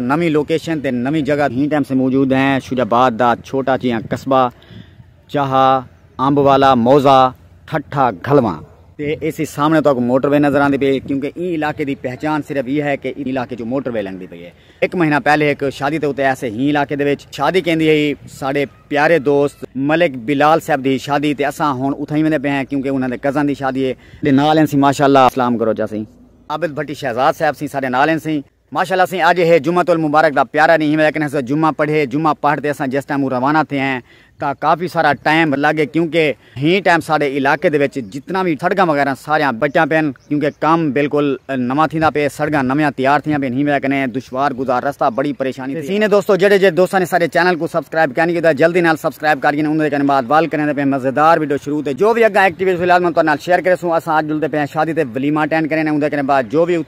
نویں لوکیشن تے نویں جگہ ہی ٹائم سے موجود ہیں شجاع آباد دا چھوٹا جیاں قصبہ چاہا امب والا موضع ٹھٹھا گھلواں تے ایسی سامنے تو اگو موٹر وے نظر آندی پئی کیونکہ ایں علاقے دی پہچان صرف یہ ہے کہ ایں علاقے جو موٹر وے لنگدی پئی ہے ایک مہینہ پہلے ایک شادی تے اتے ایسے ہی علاقے دے وچ شادی کیندی ہئی ساڈے پیارے دوست ملک بلال صاحب دی شادی تے اساں ہن اتھاں ہی ویندے پئے ہیں کیونکہ انہاں دے کزن دی شادی ہے دے نال ہیں سی ماشاءاللہ اسلام گروجہ سی عابد بھٹی شہزاد صاحب سی ساڈے نال ہیں سی۔ ماشاءاللہ سئیں اج ہے جمعۃ المبارک دا پیارا ݙینہہ ہے لیکن اساں جمعہ پڑھئے جمعہ پڑھ تے اساں جس ٹائم اوں روانہ تھئے ہیں تاں کافی سارا ٹائم لڳ ڳئے کیونکہ ہیں ٹائم ساݙے علاقے دے وچ جتنا وی سڑکاں وغیرہ ساریاں بچیاں پئن کیونکہ کم بالکل نواں تھیندا پئے سڑکاں نویاں تیار تھیاں پئن ہیں وجہ کنے دشوار گزار رستہ بڑی پریشانی تھئی ہے دوستو جیڑھے جیڑھے دوستاں نے ساݙے چینل کوں سبسکرائب کائنی کیتا جلدی نال سبسکرائب کر گھن اوں دے کنے بعد وال کریندے پئے مزیدار ویڈیو شروع تے جو وی اگاں ایکٹیویٹی فی الحال میں تہاݙے نال شیئر کریسوں اساں اج جلدے پئے ہیں شادی تے ولیمہ اٹینڈ کریندے اوں دے کنے بعد جو وی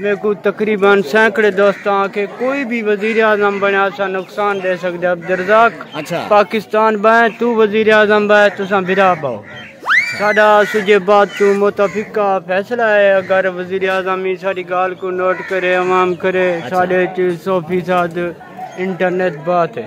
میکوں تقریبا سینکڑے دوستاں آکھے کوئی وی وزیراعظم بنڑے اساں نقصان ڈے سگدے عبدالرزاق پاکستان بائیں توں وزیراعظم بائے تساں بھرا باؤ ساڈا سجھے بات توں متفقہ فیصلہ اے اگر وزیراعظم ایں ساڈی گالھ کوں نوٹ کرے عوام کرے ساڈے اچ سو فیصد انٹرنیٹ بات اے۔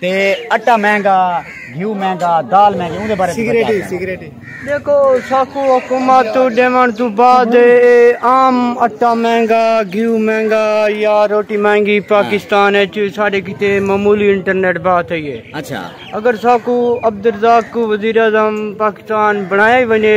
تے اٹا مہنگا گھیو مہنگا دال مہنگی اون دے بارے سگریٹ سگریٹ دیکھو ساکو حکومت تو دیوان تو بعد عام اٹا مہنگا گھیو مہنگا یا روٹی مہنگی ہاں۔ پاکستان اچ ساڈے کیتے معمولی انٹرنیٹ بات ہے یہ اچھا اگر ساکو عبدالرزاق کو وزیر اعظم پاکستان بنایا ہی ونجے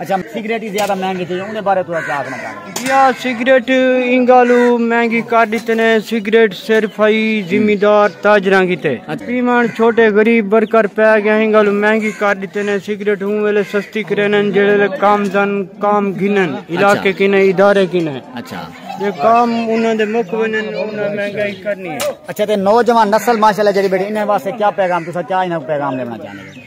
اچھا سگریٹ ہی زیادہ مہنگی تھی اون دے بارے تھوڑا کیا آکھنا چاہندے ہو جی ہاں سگریٹ ایں گالو مہنگی کر ڈتے نے سگریٹ صرف ہئی زمیندار تاجراں کیتے پیوݨ چھوٹے غریب برکر پے گئے ایں گالو مہنگی کر ڈتے نے سگریٹ اوں ویلے سستی کرینن جیڑھے لے کام دن کام گھنن علاقے کینے ادارے کینے اچھا جے کام انہاں دے مک ونجن انہاں مہنگائی کرنی ہے اچھا تے نوجوان نسل ماشاءاللہ جڑی بیٹھی انہاں واسطے کیا پیغام تساں کیا انہاں کو پیغام دیونا چاہندے ہو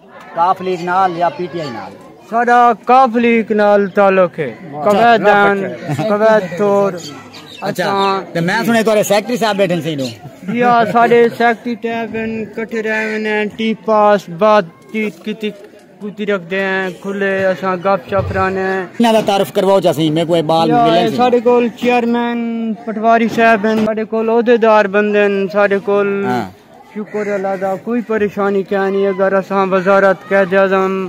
ق لیگ نال یا پی ٹی آئی نال؟ ساڈا ق لیگ نال تعلق ہے۔ قویدان قوید تھور اساں تے میں سنڑے تہاڈے سیکرٹری صاحب بیٹھن سیڈو۔ جی ہاں ساڈے سیکرٹری صاحب ہن کٹھے رہ ویندے ہن ٹی پاس بات چیت کیتی کیتی رکھدے ہیں کھلے اساں گپ شپ رانے ہیں۔ انہاں دا تعارف کرواؤ جا سہی میکوں اے بال ملن سن۔ ساڈے کول چیئرمین پٹواری صاحب ہن ساڈے کول عہدیدار بندے ہن ساڈے کول۔ شکر اللہ دا کوئی پریشانی کیا نہیں اگر اساں وزارت قید اعظم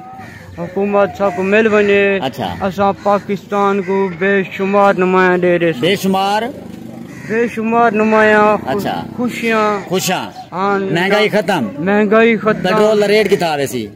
حکومت سا کو مل بنے اچھا۔ اساں پاکستان کو بے شمار نمایاں دے دے بے شمار بے شمار نمایاں اچھا۔ خوشیاں خوشاں مہنگائی ختم مہنگائی ختم پیٹرول دا ریٹ کتا آوے سی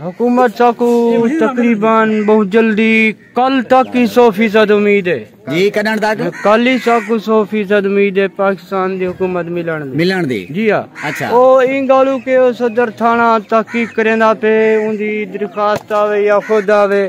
حکومت ساکوں تقریبا بہت جلدی کل تک ہی سو فیصد امید ہے جی کڈن تک کل ہی ساکوں سو فیصد امید ہے پاکستان دی حکومت ملن دی ملن دی جی ہاں اچھا او این گالو کہ صدر تھانہ تحقیق کریندا پے اون دی درخواست آوے یا خود آوے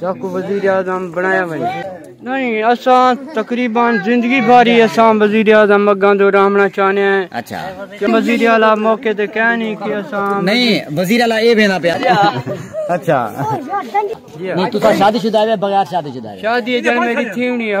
ساکوں وزیراعظم بنڑایا ونجے۔ اساں تقریبا زندگی بھر ای اساں وزیراعظم اگاں دو رہمنڑاں چاہنیاں ہیں۔ وزیراعلی موقع تے کہہ نی کہ اساں۔ شادی اچ میڈی تھیونڑی ہے۔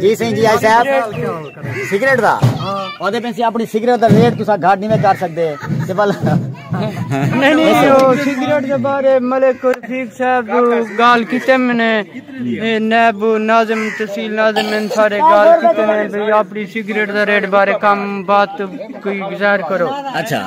جی سائیں جی آئی صاحب سگریٹ دا او دے پنسی اپنی سگریٹ دا ریٹ تسا گھاٹ نہیں میں کر سکتے تے بل نہیں نہیں او سگریٹ دے بارے ملک رفیق صاحب گال کیتے میں نے نیب ناظم تحصیل ناظم ان سارے گال کیتے میں بھی اپنی سگریٹ دا ریٹ بارے کم بات کوئی گزار کرو اچھا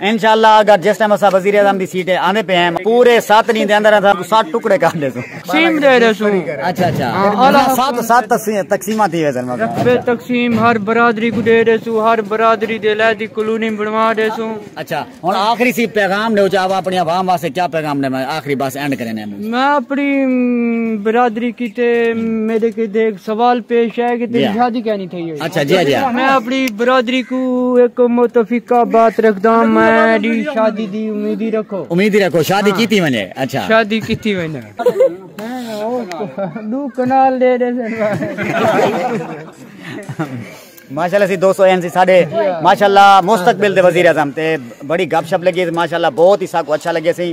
انشاءاللہ اگر جس ٹائم اساں وزیر اعظم دی سیٹ تے آندے پئے ہیں پورے ست ڈینھ دے اندر اساں کوں ست ٹکڑے کر ڈیسوں تقسیم دے ڈیسوں اچھا اچھا ست ست تقسیماں تھی ویسن رقبے تقسیم ہر برادری کوں دے ڈیسوں ہر برادری دے علیحدی کلونی بنوا ڈیسوں اچھا ہن آخری سی پیغام ڈیو چاہو اپنی عوام واسطے کیا پیغام ڈیواں آخری بس اینڈ کرینے میں اپݨی برادری کیتے میݙے کیتے ہک سوال پیش ہے کہ تیݙی شادی کیا نہیں تھئی ہوئی اچھا جی جی میں اپݨی برادری کو ایک متفقہ بات رکھدا ہاں میں دی شادی دی امید ہی رکھو امید ہی رکھو شادی ہاں۔ کیتی ونجے اچھا شادی کیتی ونجے دو کنال دے دے ماشاءاللہ سی دوستو این سی ساڈے ماشاءاللہ مستقبل دے وزیر اعظم تے بڑی گپ شپ لگی ماشاءاللہ بہت ہی سا کو اچھا لگے سی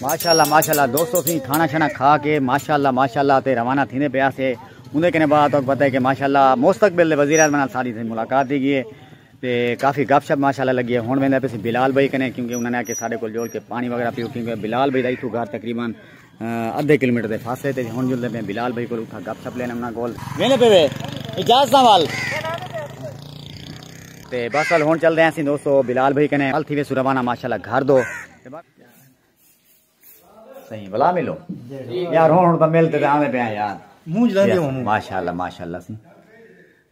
ماشاء اللہ ماشاء اللہ دوستو سی کھانا شانا کھا کے ماشاء اللہ ماشاء اللہ تے روانہ تھینے پیا سے اندر کنے بعد تو پتہ ہے کہ ماشاء اللہ مستقبل دے وزیر اعظم ساری سے ملاقات دی گئی ہے تے کافی گپ شپ ماشاء اللہ لگی ہے ہن ویندا پسی بلال بھائی کنے کیونکہ انہاں نے کہ سارے کول جوڑ کے پانی وغیرہ پیو کیونکہ بلال بھائی دا ایتھوں گھر تقریبا ادھے کلومیٹر دے فاصلے تے ہن جلدے میں بلال بھائی کول اتھاں گپ شپ لینے انہاں کول وینے پے وے اجازت وال تے بس ال ہن چل رہے ہیں دوستو بلال بھائی کنے ال تھی وے سروانہ ماشاءاللہ گھر دو صحیح بلا ملو یار ہن ہن تو ملتے تے آویں پے یار منہ جلاندے ہوں ماشاءاللہ ماشاءاللہ سی